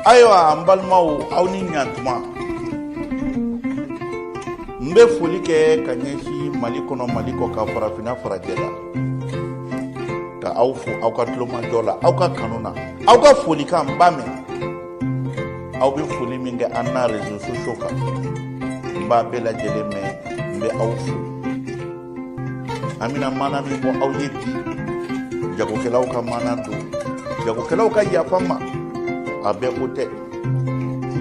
ayiwa an balimaw aw ni ɲantuma n bɛ foli kɛ ka ɲɛsin mali kɔnɔ mali kɔ ka farafinna farajɛla ka aw fo aw ka tulomajɔ la aw ka kanu na aw ka folikan n b'a mɛn aw bɛ foli min kɛ an na rezo sosiyo kan n b'a bɛɛ lajɛlen mɛn n bɛ aw fo an bɛna maana min bɔ aw ye bi jagokɛlaw ka maana don jagokɛlaw ka yafa n ma a bɛɛ ko tɛ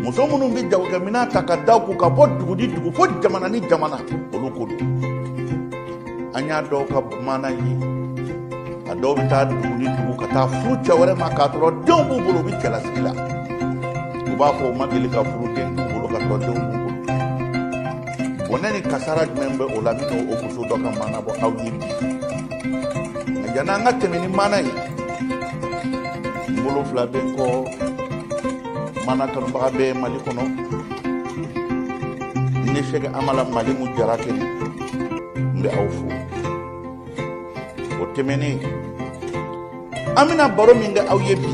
muso minnu bɛ jagokɛminɛn ta ka da u kun ka bɔ dugu ni dugu fo jamana ni jamana olu ko don an y'a dɔw ka maana ye a dɔw bɛ taa dugu ni dugu ka taa furu cɛ wɛrɛ ma k'a sɔrɔ denw b'u bolo u bɛ cɛlasigi la u b'a fɔ u ma deli ka furu den t'u bolo k'a sɔrɔ denw b'u bolo bɔnɛ ni kasara jumɛn bɛ o la n bɛna o muso dɔ ka maana bɔ aw ye bi nka yan'an ka tɛmɛ ni maana ye n bolo fila bɛ n kɔ maana kanubaga bɛɛ mali kɔnɔ ne sɛki amala malimu jarakɛ n bɛ aw fo o tɛmɛnen an bɛna baro min kɛ aw ye bi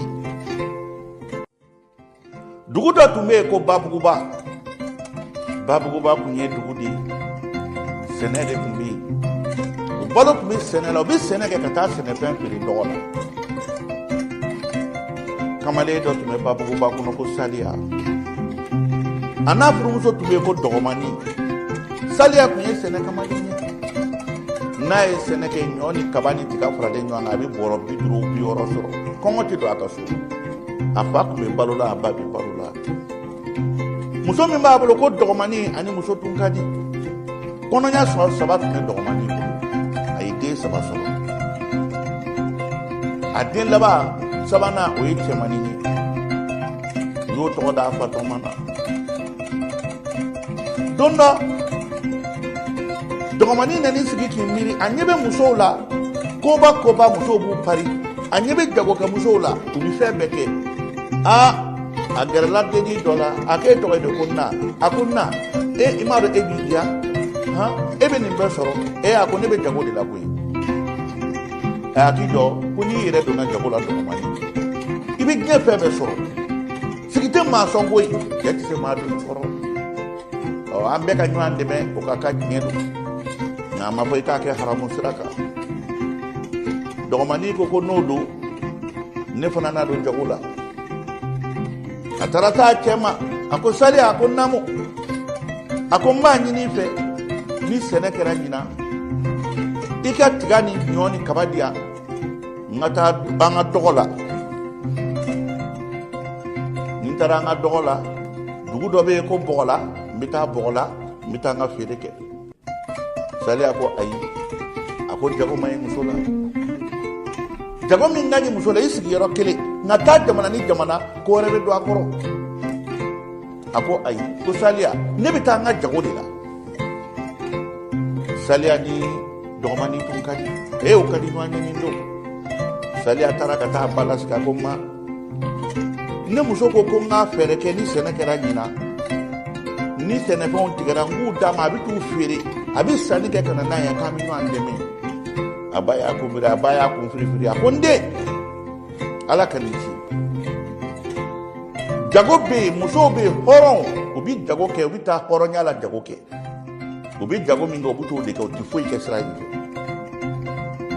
dugu dɔ tun bɛ yen ko babuguba babuguba tun ye dugu de ye sɛnɛ de tun bɛ yen o balo tun bɛ sɛnɛ la u bɛ sɛnɛ kɛ ka taa sɛnɛfɛn feere dɔgɔ la kamalen dɔ tun bɛ babuguba kɔnɔ ko saliya a n'a furumuso tun bɛ yen ko dɔgɔmani saliya tun ye sɛnɛ kamalen ye n'a ye sɛnɛ kɛ ɲɔ ni kaba ni tiga faralen ɲɔgɔn kan a bɛ bɔrɔ bi duuru bi wɔɔrɔ sɔrɔ kɔngɔ tɛ don a ka so a fa tun bɛ balo la a ba bɛ balo la muso min b'a bolo ko dɔgɔmani a ni muso tun ka di kɔnɔya sɔrɔ saba tun bɛ dɔgɔmani bolo a ye den saba sɔrɔ a den laban sabanan o ye cɛmani ye u y'o tɔgɔ da a fa tɔgɔma na don dɔ dɔgɔmanin nana i sigi k'i miiri a ɲɛ bɛ musow la koba koba musow b'u pari a ɲɛ bɛ jagokɛ musow la u bɛ fɛn bɛɛ kɛ aa a gɛrɛla dennin dɔ la a k'e tɔgɔ ye de ko na a ko na e i m'a dɔn e b'i diya han e bɛ nin bɛɛ sɔrɔ e a ko ne bɛ jago de la koyi a k'i jɔ ko n'i yɛrɛ donna jago la dɔgɔmanin i bɛ diɲɛ fɛn bɛɛ sɔrɔ sigi tɛ maa sɔn koyi cɛ tɛ se maa doni kɔrɔ ɔ an bɛɛ ka ɲɔgɔn dɛmɛ o ka kan diɲɛ don nka a ma fɔ i k'a kɛ haramu sira kan dɔgɔmani ko ko n'o don ne fana na don jago la a taara taa cɛ ma a ko saliya a ko namu a ko n b'a ɲini i fɛ ni sɛnɛ kɛra ɲinan i ka tiga ni ɲɔ ni kaba di yan n ka taa an ka dɔgɔ la ni n taara an ka dɔgɔ la dugu dɔ bɛ yen ko bɔgɔla n bɛ taa bɔgɔla n bɛ taa n ka feere kɛ saliya ko ayi a ko jago man ɲi muso la jago min ka ɲi muso la i sigiyɔrɔ kelen nka taa jamana ni jamana ko wɛrɛ bɛ don a kɔrɔ a ko ayi ko saliya ne bɛ taa n ka jago de la saliya ni dɔgɔmani tun ka di e u ka di ɲɔgɔn ye nin don saliya taara ka taa ba lasigi a ko ma ne muso ko ko n ka fɛɛrɛ kɛ ni sɛnɛ kɛra ɲinan ni sɛnɛfɛnw tigɛra n k'u d'a ma a bɛ t'u feere a bɛ sanni kɛ ka na n'a ye k'an bɛ ɲɔgɔn dɛmɛ a ba y'a kun biri a ba y'a kun firifiri a ko n den ala ka nin ci jago bɛ yen musow bɛ yen hɔrɔnw u bɛ jago kɛ u bɛ taa hɔrɔnya la jago kɛ u bɛ jago min kɛ u bɛ t'o de kɛ u tɛ foyi kɛ sira in fɛ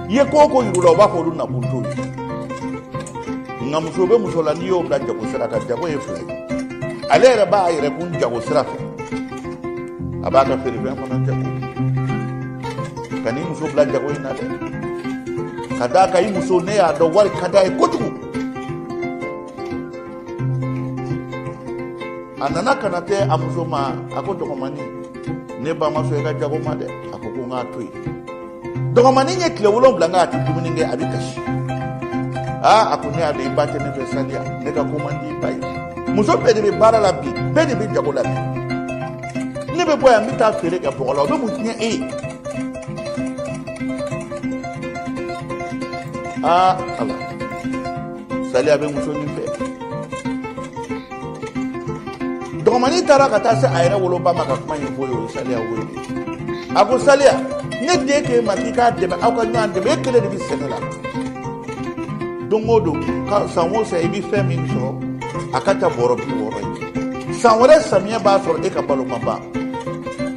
i ye ko o ko yir'u la u b'a fɔ olu nakun t'o ye nka muso bɛ muso la n'i y'o bila jago sira kan jago ye fila ye ale yɛrɛ b'a yɛrɛ kun jago sira fɛ a b'a ka feerefɛn fana jago kan'i muso bila jago in na dɛ ka d'a kan i muso ne y'a dɔn wari ka d'a ye kojugu a nana ka na se a muso ma a ko dɔgɔmani ne ba ma sɔn i ka jago ma dɛ a ko ko n k'a to yen dɔgɔmani ye tile wolonwula kɛ a tɛ dumuni kɛ a bɛ kasi aa a ko ne y'a dɔn i ba tɛ ne fɛ saliya ne ka ko man di i ba ye muso bɛɛ de bɛ baara la bi bɛɛ de bɛ jago la bi ne bɛ bɔ yan n bɛ taa feere kɛ bɔgɔla o bɛ mun tiɲɛ e ye aa ala saliya bɛ muso nin fɛ dɔgɔmani taara ka taa se a yɛrɛ woloba ma ka kuma ɲɛfɔ o ye o ye saliya wele a ko saliya ne den k'e ma k'i k'a dɛmɛ aw ka ɲɔgɔn dɛmɛ e kelen de bɛ sɛnɛ la don o don ka san o san i bɛ fɛn min sɔrɔ a ka ca bɔrɔ bi wɔɔrɔ ye san wɛrɛ samiyɛ b'a sɔrɔ e ka balo ma ban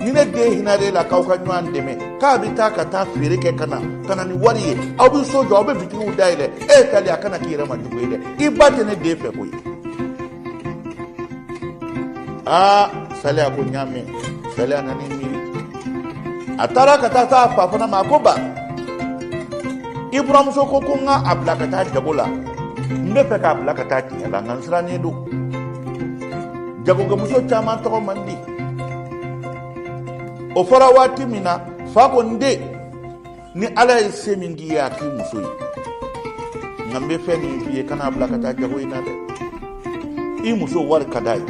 ni ne den hinar'e la k'aw ka ɲɔgɔn dɛmɛ k'a bɛ taa ka taa feere kɛ ka na ka na ni wari ye aw bɛ so jɔ aw bɛ bitigiw dayɛlɛ e saliya kana k'i yɛrɛ ma jugu ye dɛ i ba tɛ ne den fɛ koyi aa saliya ko n y'a mɛn saliya nana i miiri a taara ka taa se a fa fana ma a ko ba i buramuso ko ko n ka a bila ka taa jago la n bɛ fɛ k'a bila ka taa tiɲɛ la nka n sirannen don jagokɛmuso caman tɔgɔ man di o fɔra waati min na fa ko n den ni ala ye se min k'i ye a k'i muso ye nka n bɛ fɛn min f'i ye kan'a bila ka taa jago in na dɛ i muso wari ka d'a ye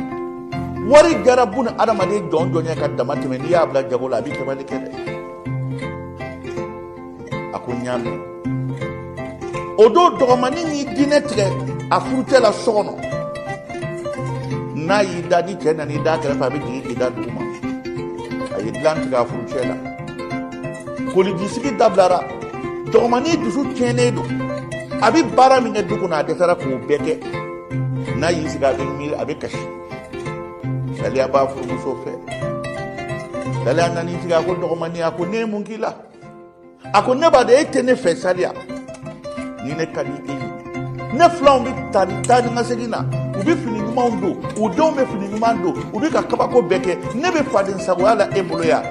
wari jarabu na adamaden jɔn jɔn ye ka dama tɛmɛ n'i y'a bila jago la a bɛ kɛbali kɛ dɛ a ko n y'a mɛn o don dɔgɔmanin y'i diinɛ tigɛ a furucɛ la so kɔnɔ n'a y'i da ni cɛ nan'i da kɛrɛfɛ a bɛ jigin k'i da duguma a ye dilan tigɛ a furucɛ la koliji sigi dabilara dɔgɔmannin dusu tiɲɛnen don a bɛ baara min kɛ du kɔnɔ a dɛsɛra k'o bɛɛ kɛ n'a y'i sigi a bɛ miiri a bɛ kasi saliya b'a furumuso fɛ saliya nan'i sigi a ko dɔgɔmannin a ko ne ye mun k'i la a ko ne b'a dɔn e tɛ ne fɛ saliya ni ne ka di e ye ne filanw bɛ taa ni taa ni ka segin na u bɛ fini ɲumanw don u denw bɛ fini ɲuman don u bɛ ka kabako bɛɛ kɛ ne bɛ faden sagoya la e bolo yan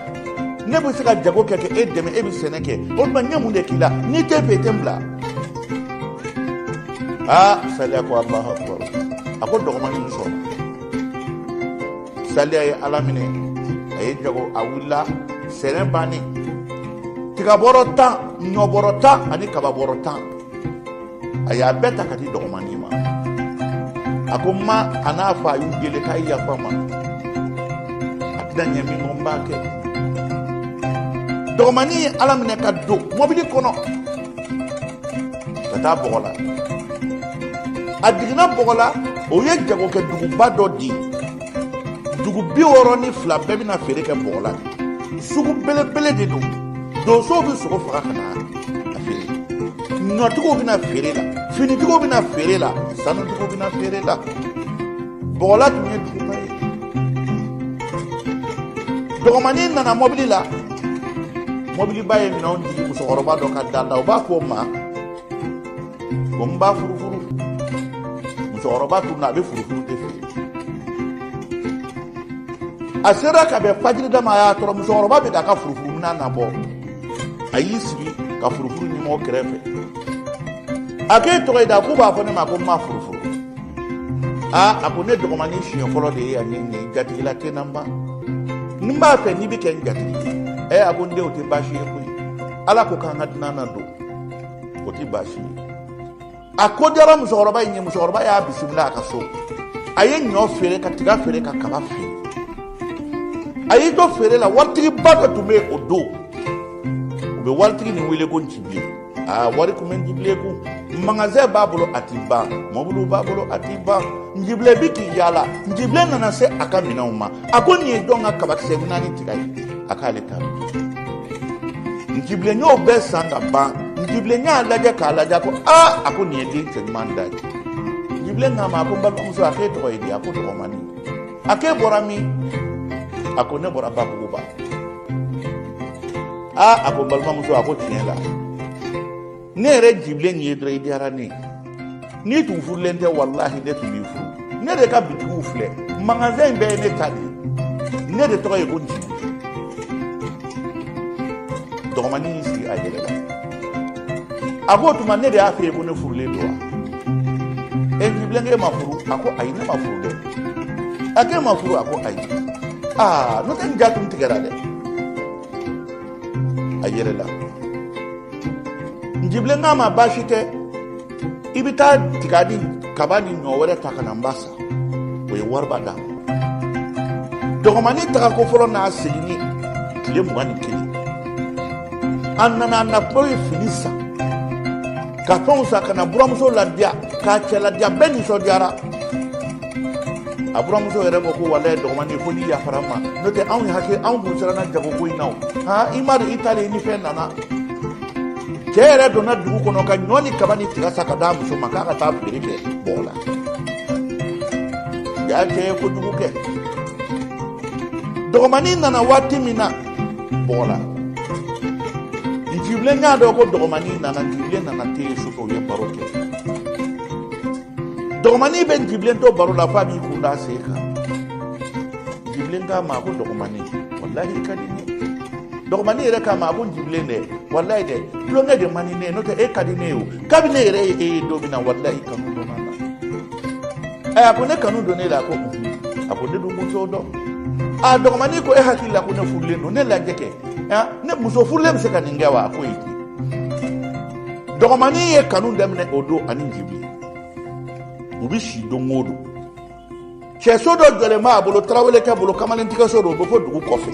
ne bɛ se ka jago kɛ ka e dɛmɛ e bɛ sɛnɛ kɛ o tuma n ye mun de k'i la n'i tɛ n fɛ i tɛ n bila aa saliya ko alahu akubaru a ko dɔgɔmanin sɔrɔ saliya ye ala minɛ a ye jago a wulila sɛnɛ bannen tigabɔrɔ tan ɲɔbɔrɔ tan ani kababɔrɔ tan a y'a bɛɛ ta ka di dɔgɔmani ma a ko ma a n'a fa a y'u deli k'a yafa a ma a tɛna ɲɛ min kɔ n b'a kɛ dɔgɔmani ye ala minɛ ka don mɔbili kɔnɔ ka taa bɔgɔla a jiginna bɔgɔla o ye jagokɛ duguba dɔ di dugu bi wɔɔrɔ ni fila bɛɛ bɛ na feere kɛ bɔgɔla sugu belebele de don donsow bɛ sogo faga ka na a feere ɲɔtigiw bɛ na feere la finitigiw bɛ na feere la sanutigiw bɛ na feere la bɔgɔla tun ye duguba ye dɔgɔmanin nana mɔbili la mɔbiliba ye minɛnw jigin musokɔrɔba dɔ ka da la u b'a fɔ o ma ko n ba furufuru musokɔrɔba tun na a bɛ furufuru de feere a sera ka bɛn fajiri da ma a y'a tɔrɔ musokɔrɔba bɛ k'a ka furufuru minan nabɔ a y'i sigi ka furufuru ɲɔmugu kɛrɛfɛ a k'e tɔgɔ ye di a k'u b'a fɔ ne ma ko n ba furufuru aa a ko ne dɔgɔmanin siɲɛ fɔlɔ de ye yan ne nin jatigila tɛ n na n ba ni n b'a fɛ n'i bɛ kɛ n jatigi ye a ko n den o tɛ baasi ye koyi ala ko k'an ka dunan nadon o tɛ baasi ye a ko diyara musokɔrɔba in ye musokɔrɔba y'a bisimila a ka so a ye ɲɔ feere ka tiga feere ka kaba feere a y'i to feere la waritigiba dɔ tun bɛ yen o don u bɛ waritigi nin wele ko nci bilen a wari kun bɛ njibilen kun magasin b'a bolo a t'i ban mɔbiliw b'a bolo a t'i ban njibilen bɛ k'i yaala njibilen nana se a ka minɛnw ma a ko nin ye jɔn ka kabakisɛ nin ani tiga ye a k'ale ta njibilen y'o bɛɛ san ka ban njibilen y'a lajɛ k'a lajɛ ko aa a ko nin ye den cɛ ɲuman dan ye njibilen k'a ma a ko n balimamuso a k'e tɔgɔ ye di a ko dɔgɔmani a k'e bɔra min a ko ne bɔra babuguba aa a ko n balimamuso a ko tiɲɛ la ne yɛrɛ njibilen n y'i ye dɔrɔn i diyara ne ye n'i tun furulen tɛ walahi ne tun b'i furu ne de ka bitigiw filɛ magasin in bɛɛ ye ne ta de ye ne de tɔgɔ ye ko njibilen dɔgɔmanin y'i sigi a yɛlɛla a ko o tuma ne de y'a f'e ye ko ne furulen don wa e njibilen k'e ma furu a ko ayi ne ma furu dɛ a k'e ma furu a ko ayi aa n'o tɛ n ja tun tigɛra dɛ a yɛlɛla njibilen k'a ma baasi tɛ i bɛ taa tiga ni kaba ni ɲɔ wɛrɛ ta ka na n b'a san o ye wariba d'a ma dɔgɔmani tagako fɔlɔ n'a seginni tile mugan ni kelen a nana a natɔ ye fini san ka fɛnw san ka na buramuso ladiya k'a cɛ ladiya bɛɛ nisɔndiyara a buramuso yɛrɛ ko ko walayi dɔgɔmani fo n'i yafara an ma n'o tɛ anw y'i hakɛ anw kun siranna jago ko in na o i m'a dɔn i taalen ni fɛn nana cɛ yɛrɛ donna dugu kɔnɔ ka ɲɔ ni kaba ni tiga san ka d'a muso ma k'a ka taa feere kɛ bɔgɔla a cɛ ye kojugu kɛ dɔgɔmani nana waati min na bɔgɔla njibilen y'a dɔn ko dɔgɔmani nana njibilen nana te ye sufɛ u ye baro kɛ dɔgɔmani bɛ njibilen to baro la f'a b'i kun d'a sen kan njibilen k'a ma ko dɔgɔmani walahi i ka di ne ye dɔgɔmani yɛrɛ k'a ma a ko njibilen dɛ walayi dɛ tulonkɛ de man di ne ye n'o tɛ e ka di ne ye o kabini ne yɛrɛ ye e ye don min na walayi kanu donna n na ɛ a ko ne kanu donn'e la a ko a ko ne dun tun t'o dɔn a dɔgɔmani ko e hakili la ko ne furulen don ne lajɛ kɛ ne muso furulen bɛ se ka nin kɛ wa a ko ayi dɔgɔmani ye kanu daminɛ o don ani njibilen u bɛ si don o don cɛso dɔ jɔlen b'a bolo tarawelekɛ bolo kamalentigɛso don o bɛ fɔ dugu kɔfɛ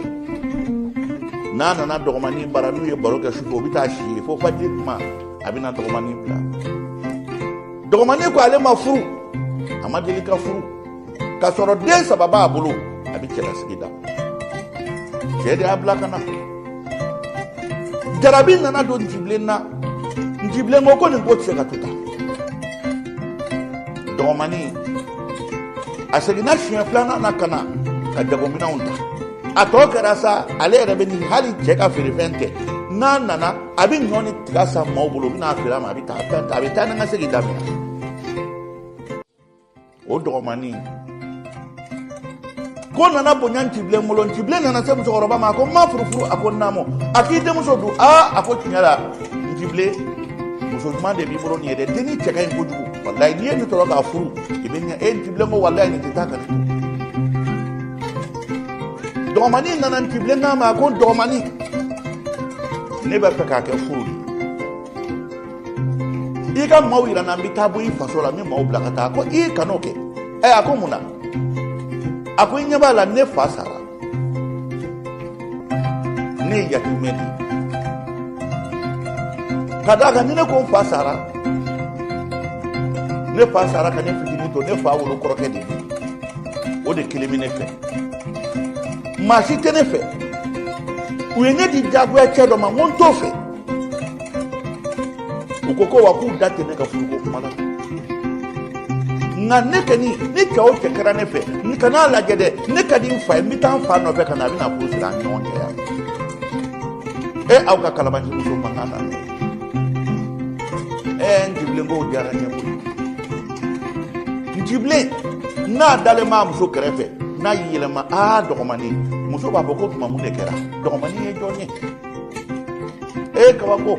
n'a nana dɔgɔmanin bara n'u ye baro kɛ sufɛ o bɛ taa si yen fo fajiri kuma a bɛna dɔgɔmanin bila dɔgɔmanin ko ale ma furu a ma deli ka furu k'a sɔrɔ den saba b'a bolo a bɛ cɛlasigi da cɛ de y'a bila ka na jarabi nana don njibilen na njibilen ko ko nin ko tɛ se ka to tan dɔgɔmani a seginna siɲɛ filanan na ka na ka jagominɛnw ta a tɔ kɛra sa ale yɛrɛ bɛ nin hali cɛ ka feerefɛn tɛ n'a nana a bɛ ɲɔ ni tiga san maaw bolo u bɛ n'a feere a ma a bɛ taa a bɛ taa ni ka segin daminɛ o dɔgɔmani ko nana bonya ncibilen bolo ncibilen nana se musokɔrɔba ma a ko n ma furufuru a ko naamu a k'i denmuso dun aa a ko tiɲɛ la ncibilen muso ɲuman de b'i bolo nin ye dɛ denni cɛ ka ɲi kojugu walayi n'i ye nin sɔrɔ k'a furu i bɛ ɲɛ e ncibilen ko walayi nin tɛ taa ka ne to dɔgɔmani nana ncibilen k'a ma a ko dɔgɔmani ne b'a fɛ k'a kɛ furu de i ka maaw yira n na n bɛ taa bɔ i faso la n bɛ maaw bila ka taa ko i kan'o kɛ ɛ a ko mun na a ko i ɲɛ b'a la ne fa sara ne ye yatimɛ de ye ka d'a kan ni ne ko n fa sara ne fa sara ka ne fitinin to ne fa wolo kɔrɔkɛ de o de kelen bɛ ne fɛ maa si tɛ ne fɛ u ye ne di jagoya cɛ dɔ ma n ko n t'o fɛ u ko ko wa k'u da tɛ ne ka furuko kuma la nka ne kɔni ni cɛ o cɛ kɛra ne fɛ n kan'a lajɛ dɛ ne ka di n fa ye n bɛ taa n fa nɔfɛ ka na a bɛna furu siri an ni ɲɔgɔn cɛ yan e aw ka kalabanci muso mankan na ne ɛɛ njibilen k'o diyara n ye koyi njibilen n'a dalen b'a muso kɛrɛfɛ n'a y'i yɛlɛma aa dɔgɔmani muso b'a fɔ ko tuma mun de kɛra dɔgɔmani ye jɔn ye e kabako